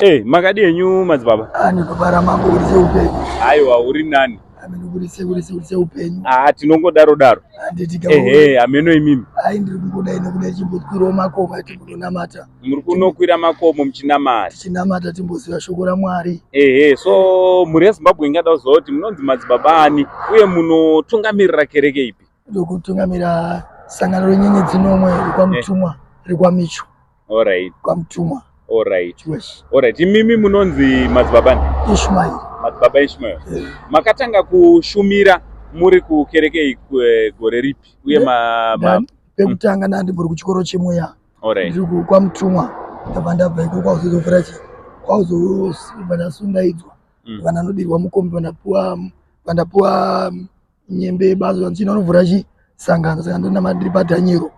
Eh, makadi enyu madzibaba? Ah, ndikubara mambo uri seupenyu. Aiwa uri nani? Ameno uri seuri seuri seupenyu. Ah, tinongodaro daro. Handiti kama. Eh, hey, ameno imimi. Ai ndiri kungoda ine kuda chimbokwirawo makomo ati munonamata. Muri kunokwira makomo muchinamata. Chinamata timboziva shoko raMwari. Eh, hey, hey, so muri yeZimbabwe ingada kuzoti munonzi madzibaba ani uye munotungamirira kereke ipi? ndokutungamira sangano renyenyedzi nomwe rekwamutumwa rekwamicho Alright. kwamutumwa Alright. yes Alright. Imimi munonzi madzibaba ndi? ishmael Madzibaba Ishmael. Eh, Makatanga kushumira muri kukereke iku- eh, gore ripi? Uye ma, ma nda- pekutanga ndandiburi kuchikoro chemweya Alright. ndiri ku- kwamutumwa ndabva ndabva ikoko kwauzozovhura chi kwauzobva ndasundaidzwa Mm. bva ndanodirwa mukombi bva ndapuwa bva ndapuwa nyembe yebazo yanzi inonovhura chi sangano saka ndona mandiri padhanyero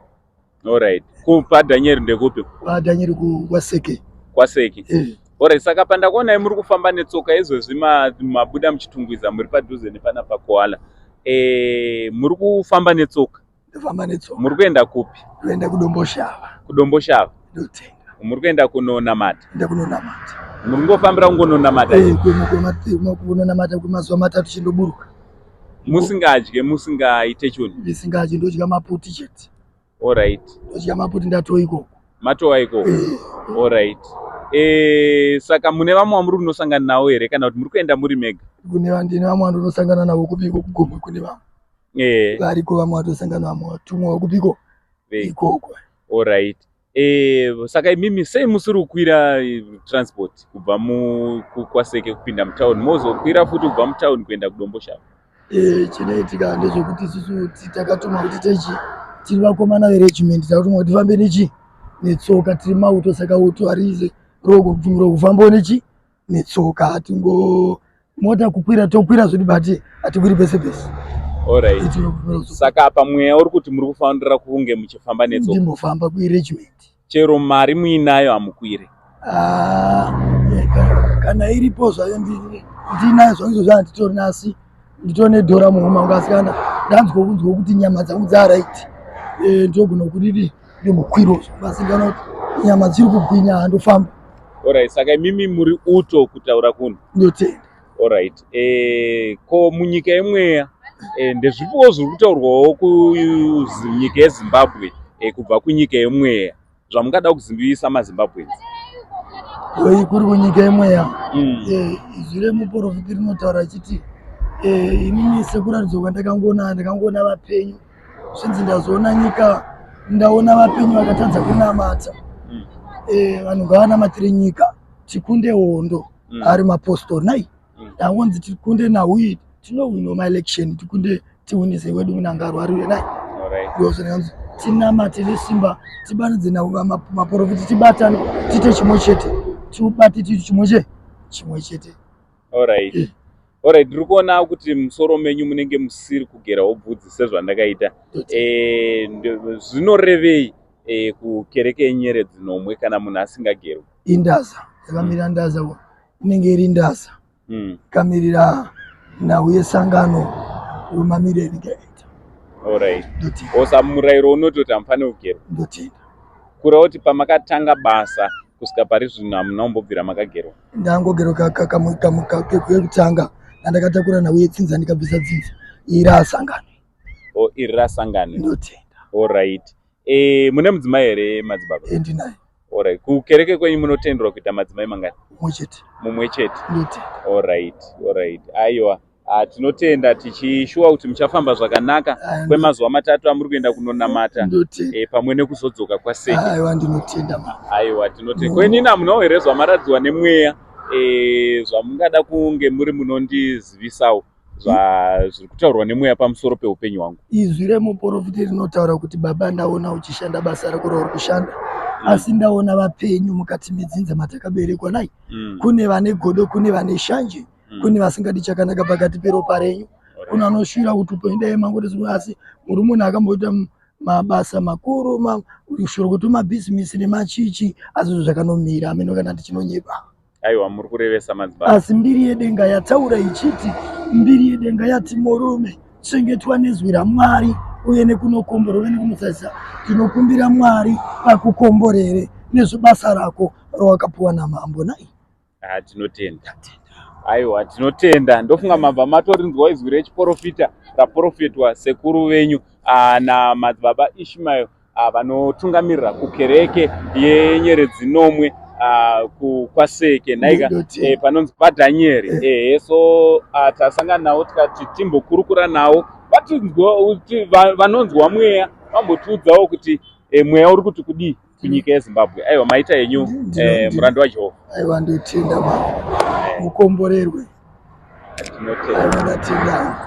alright ku padhanyero ndekupi padhanyero ku kwaseke kwaseke eh. alright saka pandakuonai muri kufamba netsoka izvezvi mabuda muchitungwiza muri padhuze nepana pakoala eh muri kufamba netsoka ndofamba netsoka muri kuenda kupi toenda kudomboshava kudomboshava ndotenga muri kuenda kunonamata enda kunonamata muri ngofambira kungononamata Eh, kwema- kwema- kwema- kunonamata kwemazuva matatu chindoburuka musingadye musingaite chunhu ndisingachi ndodya maputi chete orit ndodya maputi ndatoa ikoko matowa ikoko Eh, orit e, saka mune vamwe vamuri kunosangana navo here kana kuti muri kuenda muri mega kune va- ndine vamwe vandonosangana navo kupiko kugomwe kune vamwe eh. variko vamwe vatosangana vamwe vatumwa kupiko ikoko orit eh, saka imimi sei musiri kukwira eh, transport kubva kwaseke kupinda mutown mozokwira futi kubva mutown kuenda kudomboshava eh, chinoitika ndezvekuti isusu takatuma kuti techi tiri vakomana veregiment takatuma kuti fambe nechi netsoka tiri mauto saka uto harize rokufambawo nechi netsoka hatingo mota kukwira tokwira zvedu but hatikwiri pese pese Alright. saka apa mweya uri kuti muri kufanira kunge muchifamba netsoka ndimbofamba kuiregiment chero mari muinayo hamukwire Ah, yeah, kana- kana iripo zvayo ndi- ndinayo zvangu izvozvo handitorina asi nditone dhora muhoma wangu asikana ndanzwa kunzwa kuti nyama dzangu dzaraiti eh, ndogona kuriri nemukwiro vasikana kuti nyama dziri kugwinya handofamba orit saka imimi muri uto kutaura kuno ndotenda orit eh, ko munyika yemweya eh, ndezvipiwo zviri kutaurwawo kunyika yezimbabwe kubva kunyika yemweya zvamungada kuzimbivisa mazimbabweans wei kuri kunyika imweya mm. eh, izwi remuporofiti rinotaura achiti eh, inini sekuratidzwa kwandakangoona ndakangoona vapenyu zvinzi ndazoona nyika ndaona vapenyu vakatadza kunamata mm. eh, vanhu ngavanamatire nyika tikunde hondo mm. ari mapostori nai ndaonzi tikunde nauyi tinohwino maelection tikunde tihwinise wedu munangaro ari uye naiozonanzi tinamate nesimba tibanidze namaporofiti tibatane tiite chimwe chete tiubate tiiti chimwe che chimwe chete orit eh. orit tiri kuona kuti musoro menyu munenge musiri kugerawo bvudzi sezvandakaita eh, zvinorevei eh, kukereke yenyere dzinomwe kana munhu asingagerwi indaza yakamira ndaza inenge iri ndasa mm. kamirira nhau yesangano romamiriro enyika yaita orit osa murayiro unoti kuti hamufane kugera ndotenda kura kuti pamakatanga basa kusvika pari zvino hamuna kumbobvira makagerwa ndangogerwa kekutanga andakatakura nhau yetsinza ndikabvisa dzinza iri asangano o oh, iri rasangano ndotenda orit Eh, mune mudzimai here madzibaba? Eh, ndinaye. Alright. Kukereke kwenyu munotenderwa kuita madzimai mangani? Mumwe chete. Mumwe chete. Alright, alright. Aiwa. Ah, tinotenda tichishuwa kuti muchafamba zvakanaka kwemazuva matatu amuri kuenda kunonamata e, pamwe nekuzodzoka kwasei aiwa ndinotenda aiwa tinotenda kwenina munawo here zvamaradzwa nemweya e, zvamungada kunge muri munondizivisawo zvazviri kutaurwa nemweya pamusoro peupenyu hwangu izwi remuporofiti rinotaura kuti baba ndaona uchishanda basa rako rauri kushanda mm. asi ndaona vapenyu mukati medzinza matakaberekwa nai mm. kune vane godo kune vane shanje mm. kune vasingadi chakanaka pakati peropa renyu kune anoshuvira kuti upenyu dai mangotizwa asi muri munhu akamboita mabasa makuru kushoro kuti mabhizimisi nemachichi asi zvo zvakanomira ameno kana ndichinonyepa Aiwa muri kurevesa madzibaba. Asi mbiri yedenga yataura ichiti, Mbiri yedenga yati, Murume, chengetwa nezwi raMwari uye nekunokomborere nekunosaisa. Tinokumbira Mwari akukomborere nezvebasa rako rawakapuwa namambo nai. Ah, tinotenda. Aiwa, tinotenda. Ndofunga mabva matorinzwa izwi rechiporofita raporofetwa sekuru venyu ah, namadzibaba Ishmael Ah, vanotungamirira kukereke yenyeredzi nomwe ah, kwaseke nhaika eh, panonzi padhanyeri eh. ehe so ah, tasangana navo tikati timbokurukura navo vanonzwa mweya vambotiudzawo kuti eh, mweya uri kuti kudii kunyika yezimbabwe aiwa maita yenyu murandu wajehovha aiwa ndotenda ma mukomborerwe tinotenda